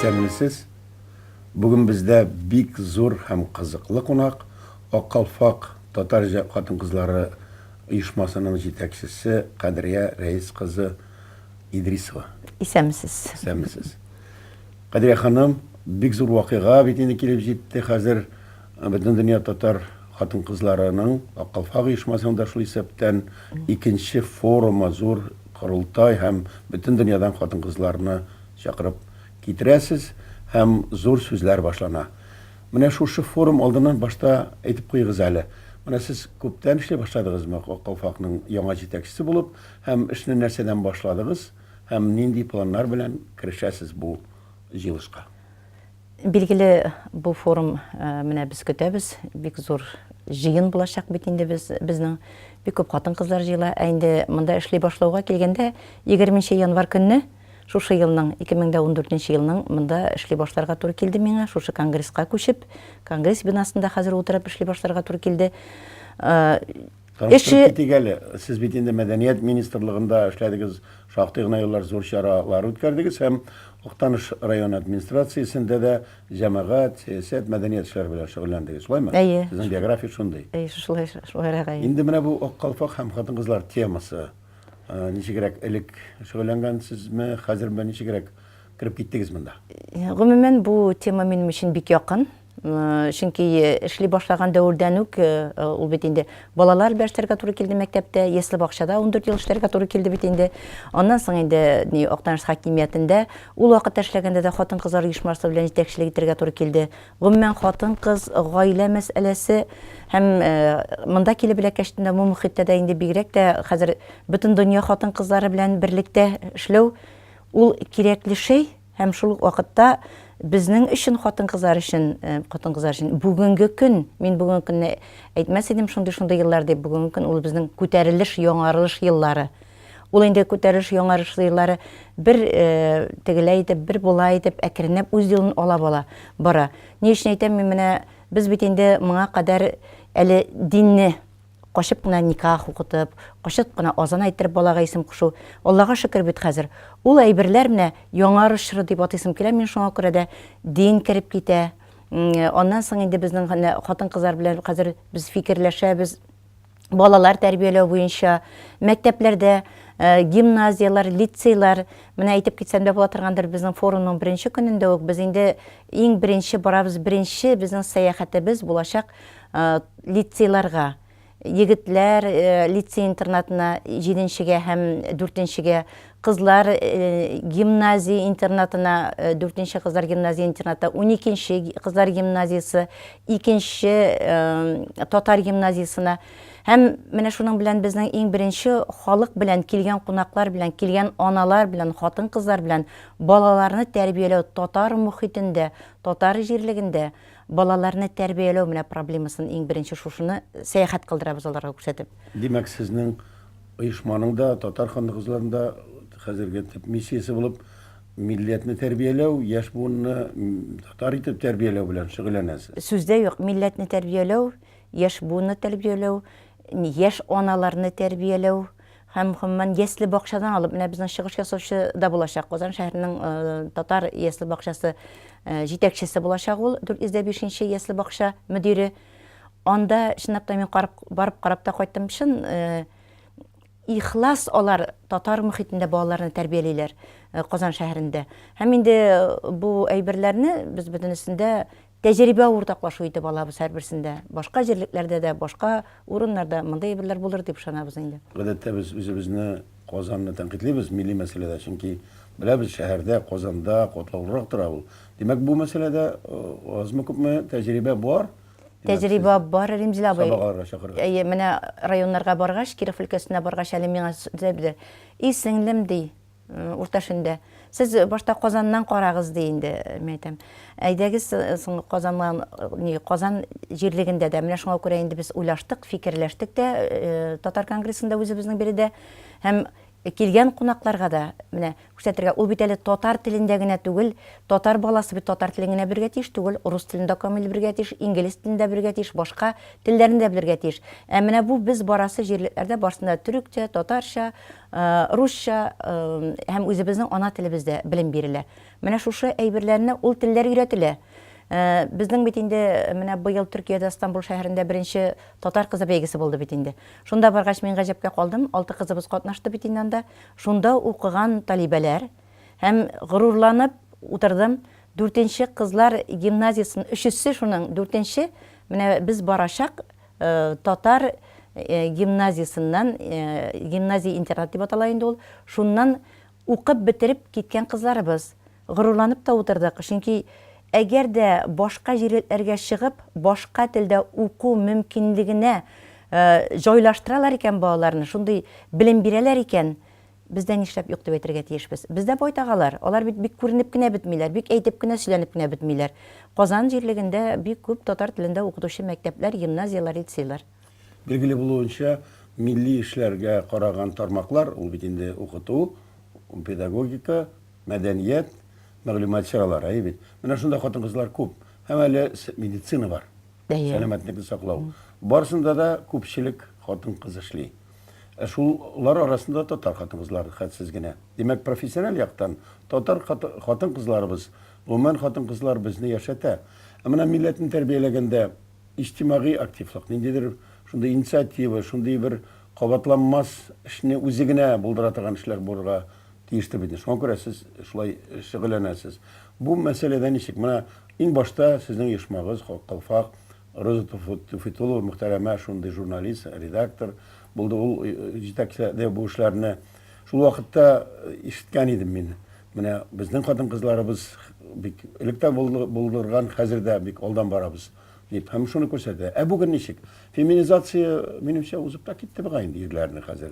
Исәнмесез. Бүген бездә бик зур һәм кызыклы кунак, Аккалфак татар хатын-кызлары оешмасының җитәкчесе Кадрия Рәис кызы Идрисова. Исәнмесез. Исәнмесез. Кадрия ханым, бик зур вакыйга бит инде килеп җитте хәзер. Бөтендөнья татар хатын-кызларының, Ак калфак оешмасының да шул исәптән, икенче форумы, зур корылтай һәм бөтен дөньядан хатын-кызларны чакырып китерәсез һәм зур сүзләр башлана. Менә шушы форум алдыннан башта әйтеп куегыз әле, менә сез күптән эшли башладыгызмы Ак калфакның яңа җитәкчесе булып һәм эшне нәрсәдән башладыгыз? Һәм нинди планнар белән керешәсез бу җыелышка? Билгеле, бу форум менә без көтәбез. Бик зур җыен булачак бит инде без, безнең. Бик күп хатын-кызлар җыела. Ә инде монда эшли башлауга килгәндә, 20 нче январь көнне шушы елның, 2014 нче елның монда эшли башларга туры килде миңа, шушы конгресска күчеп, конгресс бинасында хәзер утырып эшли башларга туры килде. Эше китик әле. Сез бит инде мәдәният министрлыгында эшләдегез, шактый гына еллар зур чаралар үткәрдегез һәм Актаныш районы администрациясендә дә җәмәгать, сәясәт, мәдәният эшләре белән шөгыльләндегез, шулаймы? Әйе. Сезнең биография шундый. Әйе, шулай, шулайрак, әйе. Инде менә бу Ак калфак һәм хатын-кызлар темасы ничегрәк элек шөгыльләнгәнсезме, хәзер менә ничегрәк кереп киттегез монда? Гомумән, бу тема минем өчен бик якын. Чөнки эшли башлаган дәвердән үк ул бит инде балалар белән эшләргә туры килде мәктәптә, ясле бакчада ундүрт ел эшләргә туры килде бит инде. Аннан соң инде ни Актаныш хакимиятендә ул вакытта эшләгәндә дә хатын-кызлар оешмасы белән җитәкчелек итәргә туры килде. Гомумән, хатын-кыз, гаилә мәсьәләсе һәм монда килеп эләккәчтен дә бу мохиттә дә инде бигрәк тә хәзер бөтен дөнья хатын-кызлары белән берлектә эшләү ул кирәкле шәй. Һәм шул ук вакытта безнең өчен, хатын-кызлар өчен, хатын-кызлар өчен бүгенге көн, мин бүгенге көнне әйтмәс идем шундый-шундый еллар дип, бүгенге көн ул безнең күтәрелеш, яңарылыш еллары. Ул инде күтәрелеш, яңарыш еллары бер тегеләй итеп, бер болай итеп әкренләп үз юлын алап ала, бара. Ни өчен әйтәм, мин менә без бит инде моңа кадәр әле динне, Качып кына никах укытып, качып кына азан әйттереп балага исем кушу. Аллага шөкер бит хәзер. Ул әйберләр менә Яңарыш чоры дип атыйсым килә мин шуңа күрә дә. Дин кереп китә. Аннан соң инде безнең менә хатын-кызлар белән хәзер без фикерләшәбез. Балалар тәрбияләү буенча мәктәпләрдә, гимназияләр, лицейлар, менә әйтеп китсәм дә була торгандыр, безнең форумның беренче көнендә үк без инде иң беренче барабыз, беренче безнең сәяхәтебез булачак лицейларга, егетләр лицей-интернатына, җиденчегә һәм дүртенчегә, кызлар гимназия-интернатына, дүртенче кызлар гимназия-интернаты, уникенче кызлар гимназиясе, икенче татар гимназиясенә һәм менә шуның белән безнең иң беренче халык белән, килгән кунаклар белән, килгән аналар белән, хатын-кызлар белән балаларны тәрбияләү татар мохитендә, татар җирлегендә, Балаларны тәрбияләү менә проблемасын иң беренче шушыны сәяхәт кылдырабыз аларга күрсәтеп. Димәк, сезнең оешманың да, Татар ханлы кызларының да хәзерге төп миссиясе булып милләтне тәрбияләү, яшь буынны татар итеп тәрбияләү белән шөгыльләнәсез. Сүз дә юк, милләтне тәрбияләү, яшь буынны тәрбияләү, яшь аналарны тәрбияләү. Һәм, гомумән, ясле-бакчадан алып, менә безнең чыгыш ясаучы да булачак. Казан шәһәренең татар ясле-бакчасы җитәкчесе булачак ул, 405 нче ясле-бакча мөдире. Анда, чынлап та, мин карап, барып карап та кайттым. Чын ихлас алар татар мөхитендә балаларны тәрбиялиләр Казан шәһәрендә. Һәм инде бу әйберләрне без бөтенесен дә тәҗрибә уртаклашу итеп алабыз һәрберсендә. Башка җирлекләрдә дә, башка урыннарда мондый әйберләр булыр дип ышанабыз инде. Гадәттә без үзебезне, Казанны тәнкыйтьлибез милли мәсьәләдә, чөнки беләбез, шәһәрдә, Казанда катлаулырак тора ул. Димәк, бу мәсьәләдә азмы-күпме тәҗрибә бар? Тәҗрибә бар, Римзил абый. Сабакларга чакырырга. Әйе, менә районнарга баргач, Киров өлкәсенә баргач, әле миңа Зәбидә, И сеңлем, ди, Урта шөндә. Сез башта Казаннан карагыз, ди инде. Мин әйтәм, әйдәгез соң Казаннан, ни, Казан җирлегендә дә. Менә шуңа күрә инде без уйлаштык, фикерләштек тә татар конгрессында үзебезнең биредә. Һәм килгән кунакларга да менә күрсәтергә. Ул бит әле татар телендә генә түгел, татар баласы бит татар телен генә белергә тиеш түгел, урыс телен дә камил белергә тиеш, инглиз телен дә белергә тиеш, башка телләрне дә белергә тиеш. Ә менә бу без барасы җирлекләрдә барсында төрекчә, татарча, Русча һәм үзебезнең ана телебездә белем бирелә. Менә шушы әйберләрне ул телләр өйрәтелә. Безнең бит инде менә быел Төркиядә Стамбул шәһәрендә беренче татар кызы бәйгесе булды бит инде. Шунда баргач мин гаҗәпкә калдым, алты кызыбыз катнашты бит инде анда. Шунда укыган талибәләр һәм горурланып утырдым, дүртенче кызлар гимназиясен өчесе шуның дүртенче менә без барачак Татар гимназиясеннән, гимназия-интернат дип атала инде ул, шуннан укып бетереп киткән кызларыбыз. Горурланып та утырдык, чөнки әгәр дә башка җирләргә чыгып, башка телдә уку мөмкинлегенә җайлаштыралар икән балаларны, шундый белем бирәләр икән, Бездә нишләп юк дип әйтергә тиешбез? Бездә байтак алар. Алар бит бик күренеп кенә бетмиләр, бик әйтеп кенә, сөйләнеп кенә бетмиләр. Казан җирлегендә бик күп татар телендә укытучы мәктәпләр, гимназияләр, лицейлар. Билгеле булуынча, милли эшләргә караган тармаклар, ул бит инде укыту, педагогика, мәдәният, мәгълүмат чаралары, әйе бит? Менә шунда хатын-кызлар күп. Һәм әле медицина бар, сәламәтлекне саклау. Барысында да күпчелек хатын-кыз эшли. Ә шулар арасында татар хатын-кызлары хәтсез генә. Димәк, профессиональ яктан татар хатын-кызларыбыз, гомумән, хатын-кызлар безне яшәтә. Ә менә милләтне тәрбияләгәндә иҗтимагый активлык, ниндидер шундый инициатива, шундый бер кабатланмас эшне үзе генә булдыра торган эшләр булырга тиештер бит инде. Шуңа күрә сез шулай шөгыльләнәсез. Бу мәсьәләдә ничек? Менә иң башта сезнең оешмагыз, Калфак, Роза Туфитулова мөхтәрәмә шундый журналист, редактор булды. Ул җитәкләде бу эшләрне. Шул вакытта ишеткән идем мин. Менә безнең хатын-кызларыбыз бик элек тә булдырган, хәзер дә бик алдан барабыз, дип. Һәм шуны күрсәтә. Ә бүген ничек? Феминизация, минемчә, узып та китте бугай инде ирләрне хәзер.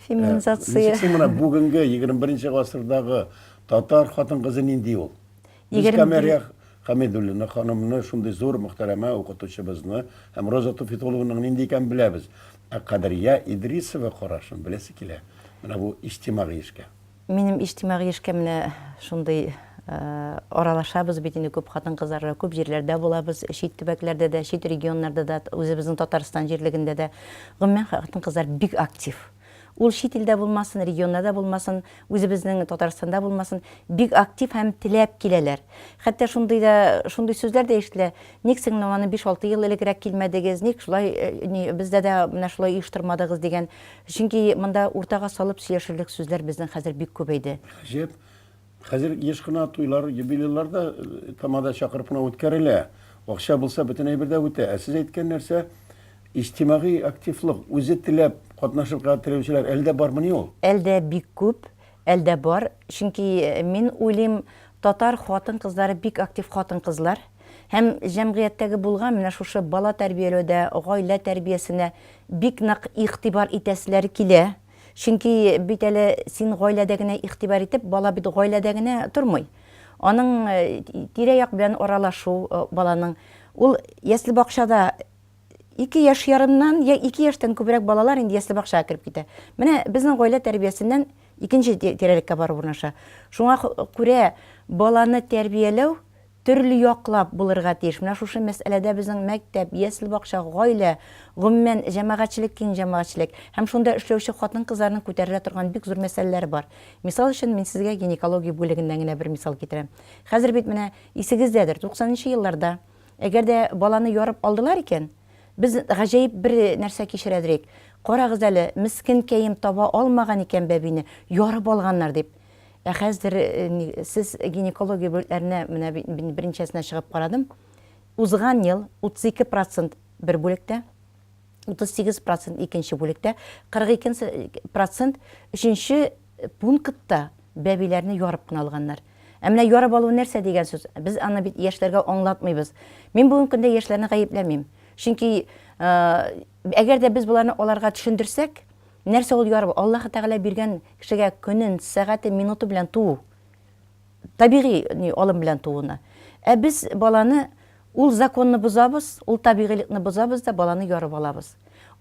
Феминизация. Ничек соң менә бүгенге 21 нче гасырдагы татар хатын-кызы нинди ул? Без Камәрия Хәмидуллина ханымны, шундый зур мөхтәрәмә укытучыбызны һәм Роза Туфитулловнаның нинди икәнен беләбез. Ә Кадрия Идрисова карашын беләсе килә менә бу иҗтимагый эшкә. Минем иҗтимагый эшкә менә шундый аралашабыз бит инде күп хатын-кызларга, күп җирләрдә булабыз, чит төбәкләрдә дә, чит регионнарда да, үзебезнең Татарстан җирлегендә дә. Гомумән, хатын-кызлар бик актив. Ул чит илдә булмасын, регионда да булмасын, үзебезнең Татарстанда булмасын, бик актив һәм теләп киләләр. Хәтта шундый да, шундый сүзләр дә ишетелә, ник сез менә аны биш-алты ел элегрәк килмәдегез, ник шулай, ни, бездә дә менә шулай оештырмадыгыз, дигән. Чөнки монда уртага салып сөйләшерлек сүзләр безнең хәзер бик күбәйде. Гаҗәп, Хәзер еш кына туйлар, юбилейлар да тамада чакырып кына үткәрелә. Акча булса, бөтен әйбер дә үтә. Ә сез әйткән нәрсә, иҗтимагый активлык, үзе теләп катнашырга теләүчеләр әле дә бармыни ул? Әлдә бик күп, әлдә бар. Чөнки мин уйлыйм, татар хатын-кызлары бик актив хатын-кызлар. Һәм җәмгыятьтәге булган менә шушы бала тәрбияләүдә, гаилә тәрбиясенә бик нык игътибар итәселәре килә. Чөнки бит әле син гаиләдә генә игътибар итеп, бала бит гаиләдә генә тормый. Аның тирә-як белән аралашу баланың. Ул ясле-бакчада ике яшь ярымнан, я ике яшьтән күбрәк балалар инде ясле-бакчага кереп китә. Менә безнең гаилә тәрбиясеннән икенче тирәлеккә барып урнаша. Шуңа күрә баланы тәрбияләү Төрле яклап булырга тиеш. Менә шушы мәсьәләдә безнең мәктәп, ясле-бакча, гаилә, гомумән, җәмәгатьчелек, киң җәмәгатьчелек һәм шунда эшләүче хатын-кызларның күтәрелә торган бик зур мәсьәләләре бар. Мисал өчен, мин сезгә гинекология бүлегеннән генә бер мисал китерәм. Хәзер бит менә, исегездәдер, туксанынчы елларда, әгәр дә баланы ярып алдылар икән, без гаҗәеп бер нәрсә кичерәдер идек. Карагыз әле, мескенкәем, таба алмаган икән бәбине, ярып алганнар, дип. Ә хәзер сез гинекология бүлекләренә менә мин беренчәсенә чыгып карадым. Узган ел 32 процент бер бүлектә, 38 процент икенче бүлектә, 42 процент өченче пунктта бәбиләрне ярып кына алганнар. Ә менә ярып алу нәрсә дигән сүз? Без аны бит яшьләргә аңлатмыйбыз. Мин бүгенге көндә яшьләрне гаепләмим. Чөнки әгәр дә без боларны аларга төшендерсәк, Нәрсә ул яру? Аллаһы Тәгалә биргән кешегә көнен, сәгатен, минутын белән туу. Табигый ни алым белән тууны. Ә без баланы ул законны бозабыз, ул табигыйлыкны бозабыз да баланы ярып алабыз.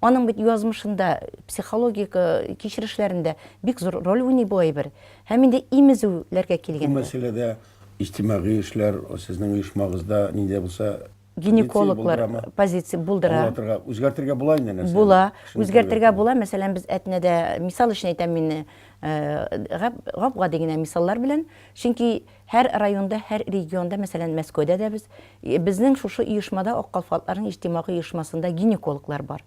Аның бит язмышында, психологик кичерешләрендә бик зур роль уйный бу әйбер. Һәм инде имезүләргә килгәндә. Бу мәсьәләдә иҗтимагый эшләр, сезнең оешмагызда нинди булса, гинекологлар позиция булдыра. Аңлатырга, үзгәртергә була инде нәрсә? Була, үзгәртергә була. Мәсәлән, без әтнәдә, мисал өчен әйтәм мин, гап-гади генә мисаллар белән, чөнки һәр районда, һәр регионда, мәсәлән, Мәскәүдә дә без, безнең шушы оешмада, Ак калфатларның иҗтимагый оешмасында гинекологлар бар.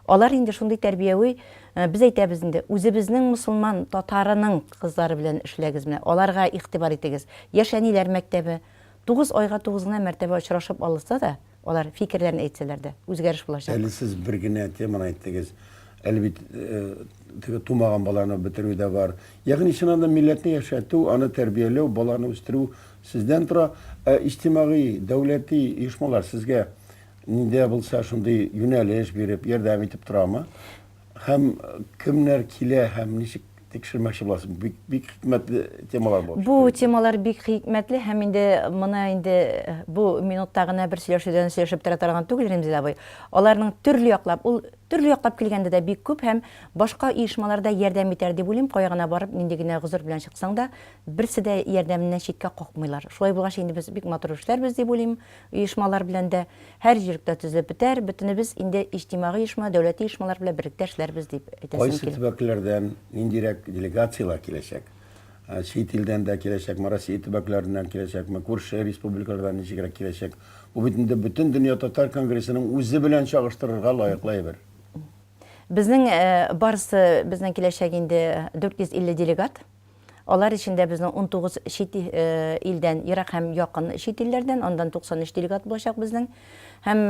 Алар инде шундый тәрбияви, без әйтәбез инде, үзебезнең мөселман татарының кызлары белән эшләгез, менә аларга игътибар итегез. Яшь әниләр мәктәбе, Тугыз айга тугыз гына мәртәбә очрашып алышса да, алар фикерләрен әйтсәләр дә, үзгәреш булачак. Әле сез бер генә теманы әйттегез. Әле бит теге тумаган баланы бетерү дә бар. Ягъни, чыннан да милләтне яшәтү, аны тәрбияләү, баланы үстерү сездән тора. Ә иҗтимагый, дәүләти оешмалар сезгә нидә булса шундый юнәлеш биреп, ярдәм итеп торамы? Һәм кемнәр килә һәм ничек тикшермәкче буласың? Бик бик хикмәтле темалар булып Бу темалар бик хикмәтле һәм инде моны инде бу минутта гына бер сөйләшүдән сөйләшеп тора торган түгел Ремзил абый. Аларның төрле яклап, ул төрле яклап килгәндә дә бик күп һәм башка оешмалар да ярдәм итәр дип уйлыйм. Кая гына барып, нинди генә гозер белән чыксаң да, берсе дә ярдәменнән читкә какмыйлар. Шулай булгач, инде без бик матур эшләрбез дип уйлыйм. оешмалар белән дә һәр җиректә төзелеп бетәр, бөтенебез инде иҗтимагый оешма, дәүләти оешмалар белән берлектә эшләрбез, дип әйтәсем Кайсы килә. төбәкләрдән ниндирәк делегацияләр киләчәк? Чит илдән дә киләчәкме, Россия төбәкләреннән киләчәкме, күрше республикалардан ничегрәк киләчәк? Бу бит инде Бөтендөнья татар конгрессының үзе белән чагыштырырга лаеклы әйбер. Безнең барысы, безнең киләчәк инде 450 делегат. Алар эчендә безнең унтугыз чит илдән, ерак һәм якын чит илләрдән, андан 93 делегат булачак безнең. Һәм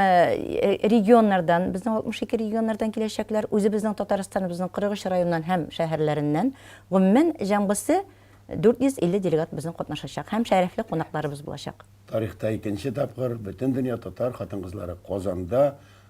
регионнардан, безнең 62 регионнардан киләчәкләр, үзебезнең Татарстаныбызның 43 районыннан һәм шәһәрләреннән. Гомумән, җәмгысе 450 делегат безнең катнашачак һәм шәрәфле кунакларыбыз булачак. Тарихта икенче тапкыр Бөтендөнья татар хатын-кызлары Казанда